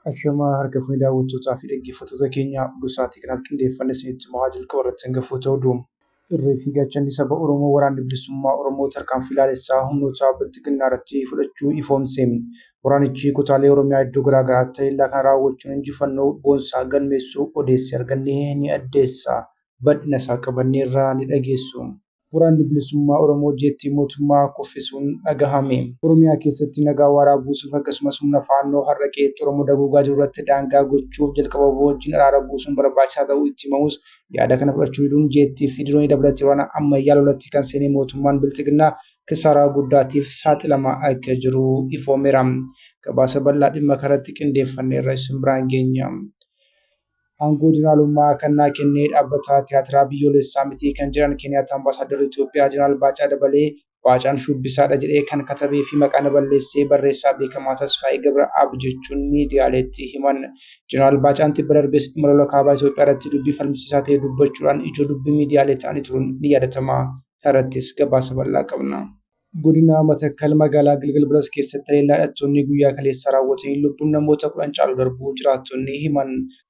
Ashamaa harka fuunee daawwattootaa fi dhaggeeffattoota keenya oduu sa'aatii kanaaf qindeeffanne isinitti himaa jalqaba irratti hangafuu ta'uu du'u. Irree fi gaachanni saba Oromoo waraanni bilisummaa Oromoo tarkaanfii laalessaa humnoota bilxiginnaa irratti fudhachuu ifoomse. Waraanichi kutaalee Oromiyaa iddoo garaa garaatti haleellaa kana raawwachuun injifannoo boonsaa galmeessuu odeessi arganne ni addeessa. bal'ina isaa qabannee irraa ni dhageessu. Waraanni Bilisummaa Oromoo Jeettii Mootummaa Kuffisuun Dhagahame. Oromiyaa keessatti nagaa waaraa buusuuf akkasumas humna Faannoo har'a qe'eetti Oromoo dagoogaa jiru irratti daangaa gochuuf jalqaba wbo wajjin araara buusuun barbaachisaa ta'uu itti himamus yaada kana fudhachuu diduun jeettii fi diroonii dabalatee waraana ammayyaa lolatti kan seenee mootummaan Bilxiginnaa kisaaraa guddaatiif saaxilamaa akka jiru ifoomeera. Gabaasa bal'aa dhimma kanarratti qindeeffanneerra isin biraan geenya. Aangoo Jeneraalummaa kan naa kenne Dhaabbata Tiyaatiraa Biyyoolessaa miti kan jedhan Keniyaatti Ambaasaaddarri Itoophiyaa Jeneraal Baacaa Dabalee, Baacaan shubbisaadha jedhee kan katabeefi maqaa na balleesse barreessaa beekamaa Tasfaayee Gabra'aab jechuun miidiyaaleetti himan. Jeneraal Baacaan tibba darbes dhimma lola Kaaba Itoophiyaarratti dubbii falmisiisaa ta'e dubbachuudhaan ijoo dubbii miidiyaalee ta'anii turuun ni yaadatama. Isaarrattis gabaasa bal'aa qabna. Godina Matakkal magaalaa Gilgil Bilas keessatti haleellaa hidhattoonni guyyaa kaleessa raawwataniin lubbuun namoota kudhan caalu darbuu jiraattonni himan.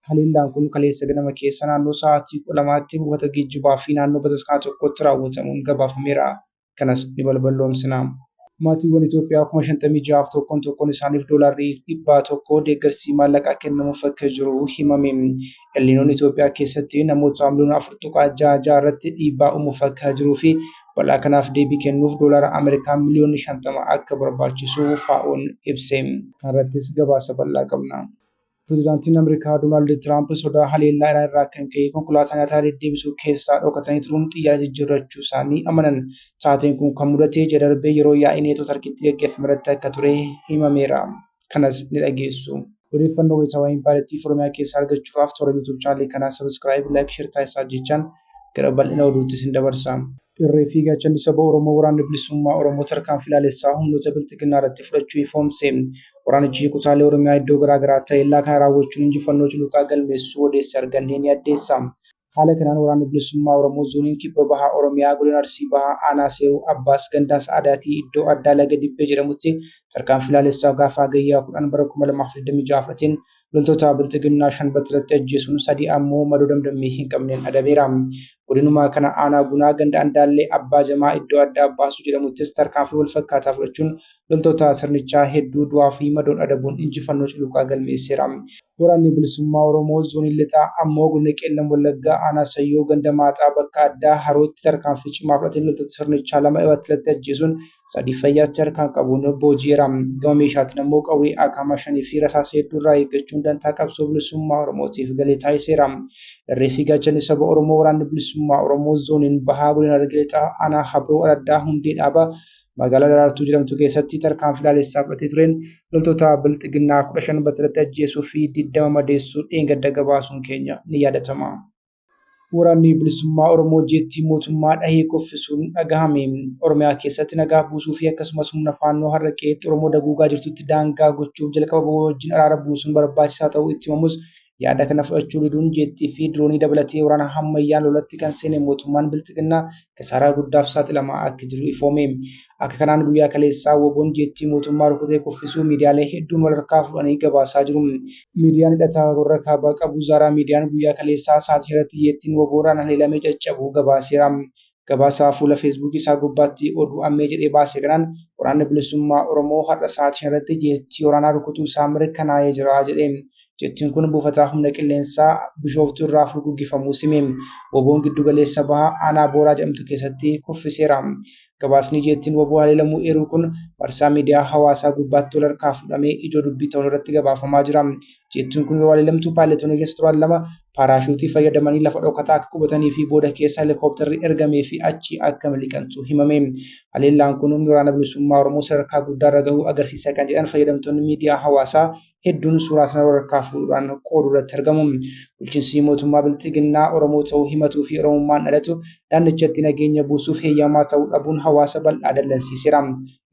Haleellaan kun kaleessa ganama keessa naannoo sa'aatii kudha lamaatti buufata geejjibaa fi naannoo bataskaana tokkotti raawwatamuun gabaafameera. Kanas ni balballoomsina. Maatiiwwan Itoophiyaa kuma shantamii ja'aaf tokkoon tokkoon isaaniif doolaarri dhibbaa tokko deeggarsi maallaqaa kennamuuf akka jiru himame. Elniinoon Itoophiyaa keessatti namoota miliyoona afur tuqaa ja'a ja'a irratti dhiibbaa uumuuf akka jiruu fi Balaa kanaaf deebii kennuuf doolaara Ameerikaa miliyoonni 50 akka barbaachisu FAO'n ibse. Kanarrattis gabaasa bal'aa qabna. Pirezidaantiin Ameerikaa Doonaald Tiraamp sodaa haleellaa Iraan irraa kan ka'e konkolaataa nyaataa deddeebisuu keessaa dhokatanii turuun xiyyaara jijjiirrachuu isaanii amanan. Taateen kun kan mudate ji'a darbe yeroo yaa'ii Neetoo Tarkiitti gaggeeffamerratti akka ture himameera. kanas ni dhageessu. Odeeffannoo wayitaawaa Impaayertii fi Oromiyaa keessaa argachuudhaaf toora YouTube channel kanaa subscribe, like, share taasisaa jechaan gara bal'ina oduutti isin dabarsa. Irree fi Gaachanni Saba Oromoo Waraanni Bilisummaa Oromoo tarkaanfii laalessaa humnoota Bilxiginnaa irratti fudhachuu ifoomse. Waraanichi kutaalee Oromiyaa iddoo garaa garaatti haleellaa kana raawwachuun injifannoo cululuqaa galmeessuu odeessi arganne ni addeessa. Haala kanaan Waraanni Bilisummaa Oromoo Zooniin Kibba Bahaa Oromiyaa Godina Arsii Bahaa Aanaa Seeruu Abbaas Gandaa Sa'adaatii iddoo addaa Laga Dibbee jedhamutti tarkaanfii laalessaa gaafa Hagayyaa 10 bara 2026 fudhateen loltoota Bilxiginnaa 5 battalatti ajjeesuun 3 ammoo madoo damdammii hin qabneen adabeera. Godinuma kana Aanaa Gunaa Ganda Andaallee Abbaa Jamaa iddoo addaa Baasuu jedhamuttis tarkaanfii wal fakkaataa fudhachuun loltoota sirnichaa hedduu du'aa fi madoon adabuun injifannoo culuqaa galmeesseera. Waraanni Bilisummaa Oromoo Zoonii Lixaa ammoo Godina Qeellam Wallaggaa Aanaa Sayyoo Ganda Maaxaa bakka addaa Harootti tarkaanfii cimaa fudhateen loltoota sirnichaa lama battalatti ajjeesuun sadii fayyaatti harkaan qabuun booji'eera. Gama meeshaatiin ammoo qawwee Akaama shanii fi rasaasa hedduu irraa eeggachuun dantaa qabsoo bilisummaa Oromootiif galii taasiseera. Irree fi gaachanni saba Oromoo Waraanni Bilisummaa Oromoo Zooniin Bahaa Godina Harargee Lixaa Aanaa Habroo Araddaa Hundee Dhaabaa magaalaa Daraartuu jedhamtu keessatti tarkaanfii laalessaa fudhatee tureen loltoota bilxiginnaa 15 battalatti ajjeesuu fi 20 madeessuu dheengadda gabaasuun keenya ni yaadatama. Waraanni bilisummaa Oromoo jeettii mootummaa dhahee kuffisuun dhagahame. Oromiyaa keessatti nagaa buusuu fi akkasumas humna faannoo har'a qe'eetti Oromoo daguugaa jirtutti daangaa gochuuf jalqaba wajjin araara buusuun barbaachisaa ta'uu itti himamus yaada kana fudhachuu diduun jeettii fi diroonii dabalatee waraana hammayyaan lolatti kan seene mootummaan bilxiginnaa kisaaraa guddaaf saaxilamaa akka jiru ifoome. Akka kanaan guyyaa kaleessaa woboon jeettii mootummaa rukutee kuffisuu miidiyaalee hedduun walharkaa fudhanii gabaasaa jiru. Miidiyaan hidhataa warra kaabaa qabu Zaaraa Miidiyaan guyyaa kaleessaa sa'aatii shan irratti jeettiin woboodhaan haleelamee caccabuu gabaaseera. Gabaasaa fuula Feesbuukii isaa gubbaatti oduu ammee jedhee baase kanaan waraanni bilisummaa Oromoo har'a sa'aatii shan irratti jeettii waraanaa rukutuu isaa mirkanaa'ee jira jedhe. Jettiin kun buufataa humna qilleensaa Bishooftuu irraa furguggifamuu sime. Woboon giddu galeessa baha aanaa Booraa jedhamtu keessatti kuffiseera. Gabaasni jeettiin woboo haleelamuu eeruu kun marsaa miidiyaa hawaasaa gubbaatti wal harkaa fuudhamee ijoo dubbii ta'uun irratti gabaafamaa jira. Jeettiin kun yeroo haleelamtu paayiletoonni keessa turan lama paaraashuutii fayyadamanii lafa dhokataa akka qubatanii fi booda keessa helikooptarri ergamee fi achi akka miliqantu himame. Haleellaan kun humni waraana bilisummaa Oromoo sadarkaa guddaarra gahuu agarsiisa kan jedhan fayyadamtoonni miidiyaa hawaasaa hedduun suuraa sana walharkaa fuudhuudhaan qooduu irratti argamu. Bulchiinsi mootummaa Bilxiginnaa Oromoo ta'uu himatuu fi Oromummaan dhalatu naannichatti nageenya buusuuf heeyyamaa ta'uu dhabuun hawaasa bal'aa dallansiiseera.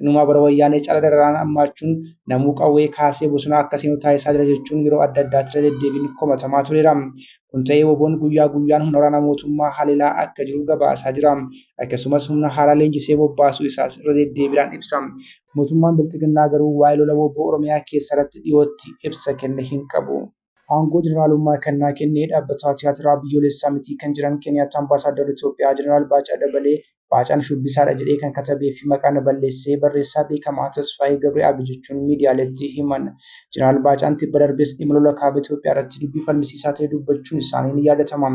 Inumaa bara wayyaanee cala dararaan hammaachuun namuu qawwee kaasee bosonaa akka seenu taasisaa jira jechuun yeroo adda addaatti irra deddeebiin komatamaa tureera. Kun ta'ee woboon guyyaa guyyaan humna waraanaa mootummaa haleelaa akka jiru gabaasaa jira. Akkasumas humna haaraa leenjisee bobbaasuu isaas irra deddeebiidhaan ibsa. Mootummaan Bilxiginnaa garuu waa'ee lola wbo Oromiyaa keessaa irratti dhiyootti ibsa kenne hin qabu. Aangoo jeneraalummaa kan naa kenne dhaabbataa tiyaatiraa biyyoolessaa mitii kan jiran Keeniyaattaa Ambaasaaddarri Itoophiyaa Jeneraal Baacaa Dabalee Baacaan shubbisaadha jedhee kan katabee fi maqaa na balleessee barreessaa beekamaa Tasfaayee Gabri'aabi jechuun miidiyaaleetti himan. Jeneraal Baacaan tibba darbes dhimma lola Kaaba Itoophiyaarratti dubbii falmisiisaa ta'e dubbachuun isaanii ni yaadatama.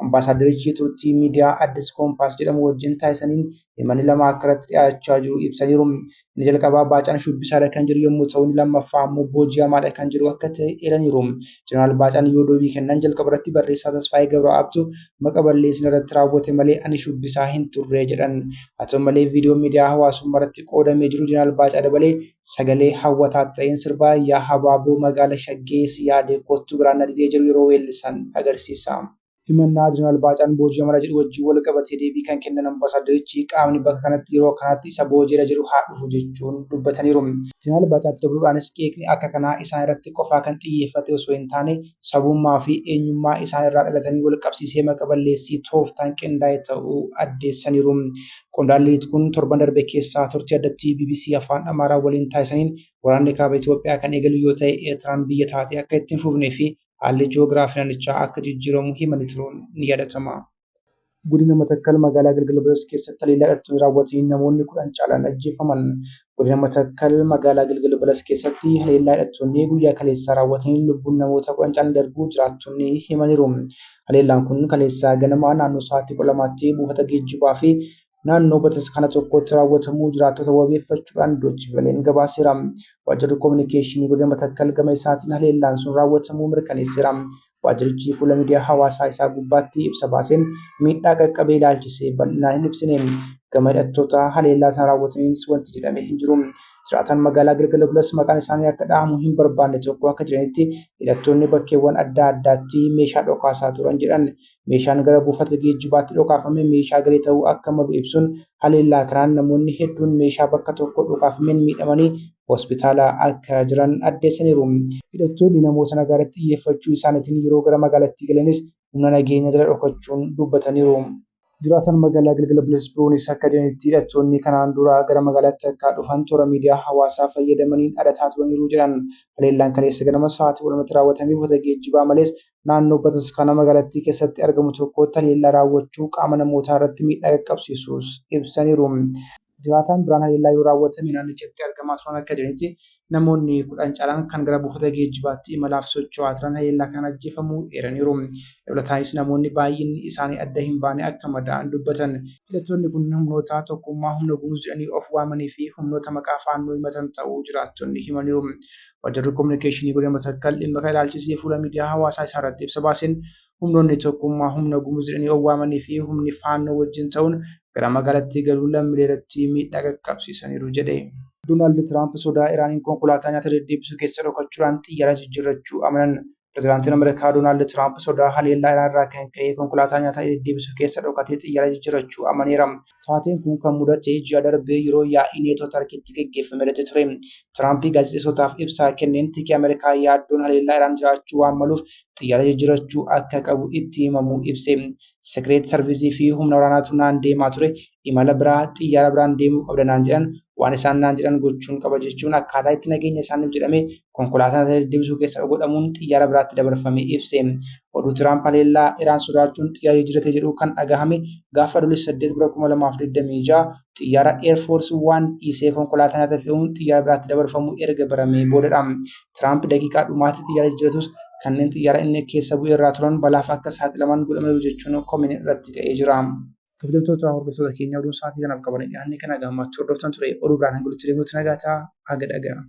Ambaasaaddarichi turtii miidiyaa Addis Kompaas jedhamu wajjin taasisaniin Himanni lama akka irratti dhiyaachaa jiru ibsaniiru. Inni jalqabaa Baacaan shubbisaadha kan jiru yommuu ta'u, inni lammaffaa ammoo booji'amaadha kan jiru akka ta'e eeraniiru. Jeneraal Baacaan yoo deebii kennan jalqaba irratti barreessaa Tasfaayee Gabra'aabtu maqa balleessin irratti raawwate malee ani shubbisaa hin turre jedhan. Haa ta'u malee viidiyoon miidiyaa hawaasummaa irratti qoodamee jiru Jeneraal Baacaa Dabalee sagalee hawwataa ta'een sirba yaa habaaboo magaala shaggee si yaadee kottu garaan na didee jedhu yeroo weellisan agarsiisa. Himannaa Jeneraal Baacaan booji'amara jedhu wajjin wal qabatee deebii kan kennan Ambaasaaddarichi, qaamni bakka kanatti yeroo akkanaatti isa booji'era jedhu haa dhufu jechuun dubbataniiru. Jeneraal Baacaatti dabaluudhaanis qeeqni akka kanaa isaan irratti qofaa kan xiyyeeffate osoo hin taane, sabummaa fi eenyummaa isaan irraa dhalataniin wal qabsiisee maqa balleessii tooftaan qindaa'e ta'uu addeessaniiru. Qondaalli Lit kun torban darbe keessaa turtii addattii bbc Afaan Amaaraa waliin taasisaniin, waraanni Kaaba Itoophiyaa kan eegalu yoo ta'e Eertiraan biyya taatee akka itti hin fufnee fi haalli ji'oogiraafii naannichaa akka jijjiiramu himanii turuun ni yaadatama. Godina Matakkal magaalaa Gilgil Beles keessatti haleellaa hidhattoonni raawwataniin namoonni 10 caalaan ajjeefaman. Godina Matakkal magaalaa Gilgil Beles keessatti haleellaa hidhattoonni guyyaa kaleessaa raawwataniin lubbuun namoota 10 caalaan darbuu jiraattonni himaniiru. Haleellaan kun kaleessaa ganamaa naannoo sa'aatii 12tti buufata geejjibaa fi naannoo bataskaana tokkootti raawwatamuu jiraattota wabeeffachuudhaan Doochi Veleen gabaaseera. Waajjirri Kominikeeshinii Godina Matakkal gama isaatiin haleellaan sun raawwatamuu mirkaneesseera. Waajjirichi fuula miidiyaa hawaasaa isaa gubbaatti ibsa baaseen miidhaa qaqqabee ilaalchisee bal'inaan hin ibsine. Gama hidhattoota haleellaa sana raawwataniinis wanti jedhame hin jiru. Jiraataan magaalaa Gilgala Bulas maqaan isaanii akka dhahamu hin barbaanne tokko akka jedhanitti hidhattoonni bakkeewwan adda addaatti meeshaa dhokaasaa turan jedhan. Meeshaan gara buufata geejjibaatti dhokaafame meeshaa garee ta'uu akka malu ibsuun, haleellaa kanaan namoonni hedduun meeshaa bakka tokkoo dhokaafameen miidhamanii hospitaala akka jiran addeessaniiru. Hidhattoonni namoota nagaa irratti xiyyeeffachuu isaaniitiin yeroo gara magaalattii galanis humna nageenyaa jala dhokachuun dubbataniiru. Jiraataan magaalaa Gilgal Bilas biroonis akka jedhanitti, hidhattoonni kanaan dura gara magaalaatti akka dhufan toora miidiyaa hawaasaa fayyadamaniin dhadataa turaniiru jedhan. Haleellaan kaleessa ganama sa'aatii 12tti raawwatame buufata geejjibaa malees naannoo bataskaana magaalattii keessatti argamu tokko haleellaa raawwachuu qaama namootaa irratti miidhaa qaqqabsiisuus ibsaniiru. Jiraataan biraan haleellaa yoo raawwatame naannichatti argamaa turan akka jedhanitti namoonni kudhan caalaan kan gara buufata geejjibaatti imalaaf socho'aa turan haleellaa kanaan ajjeefamuu eeraniiru. Dabalataanis namoonni baay'inni isaanii adda hin baane akka madaa'an dubbatan. Hidhattoonni kun humnoota tokkummaa humna gumuz jedhanii of waamanii fi humnoota maqaa faannoo himatan ta'uu jiraattonni himaniiru. Waajjirri Kominikeeshinii Godina Matakkal dhimma kana ilaalchisee fuula miidiyaa hawaasaa isaa irratti ibsa baaseen humnoonni tokkummaa humna Gumuz jedhanii of waamanii fi humni Faannoo wajjin ta'uun gara magaalattii galuun lammilee irratti miidhaa qaqqabsiisaniiru jedhe. Doonaald Tiraamp sodaa Iraaniin konkolaataa nyaata deddeebisu keessa dhokachuudhaan xiyyaara jijjiirrachuu amanan. Pirezidaantiin Ameerikaa Doonaald Tiraamp sodaa haleellaa Iraan irraa kan ka'e konkolaataa nyaataa deddeebisu keessa dhokatee xiyyaara jijjiirachuu amaneera. Taateen kun kan mudate ji'a darbe yeroo yaa'ii Neetoo Tarkiitti geggeeffame irratti ture. Tiraamp gaazexeessootaaf ibsaa kenneen tiki Ameerikaa yaaddoon haleellaa Iraan jiraachuu waan maluuf xiyyaara jijjiirachuu akka qabu itti himamuu ibse. Sekireet Sarviizii fi humna waraanaatu naan deemaa ture, imala biraa xiyyaara biraan deemuu qabda naan jedhan waan isaan naan jedhan gochuun qaba jechuun akkaataa itti nageenya isaaniif jedhame konkolaataan isa deddeebisuu keessa godhamuun xiyyaara biraatti dabarfame ibse. Oduu Tiraamp haleellaa Iraan sodaachuun xiyyaara jijjiirate jedhu kan dhagahame gaafa Adoolessa 8 bara 2026 xiyyaara Air Force waan dhiisee konkolaataan irratti fe'uun xiyyaara biraatti dabarfamu erga baramee boodadha. Tiraamp daqiiqaa dhumaatti xiyyaara jijjiiratus kanneen xiyyaara inni keessa bu'ee irraa turan balaaf akka saaxilaman godhamaniiru jechuun komiin irratti ka'ee jira. Kabajamtoota hordoftoota keenyaa oduun sa'aatii kanaaf qabannee dhiyaannee kana gammaachuu hordoftan ture oduu biraan hanga walitti deebinutti nagaa ta'a haga dhaga'amu.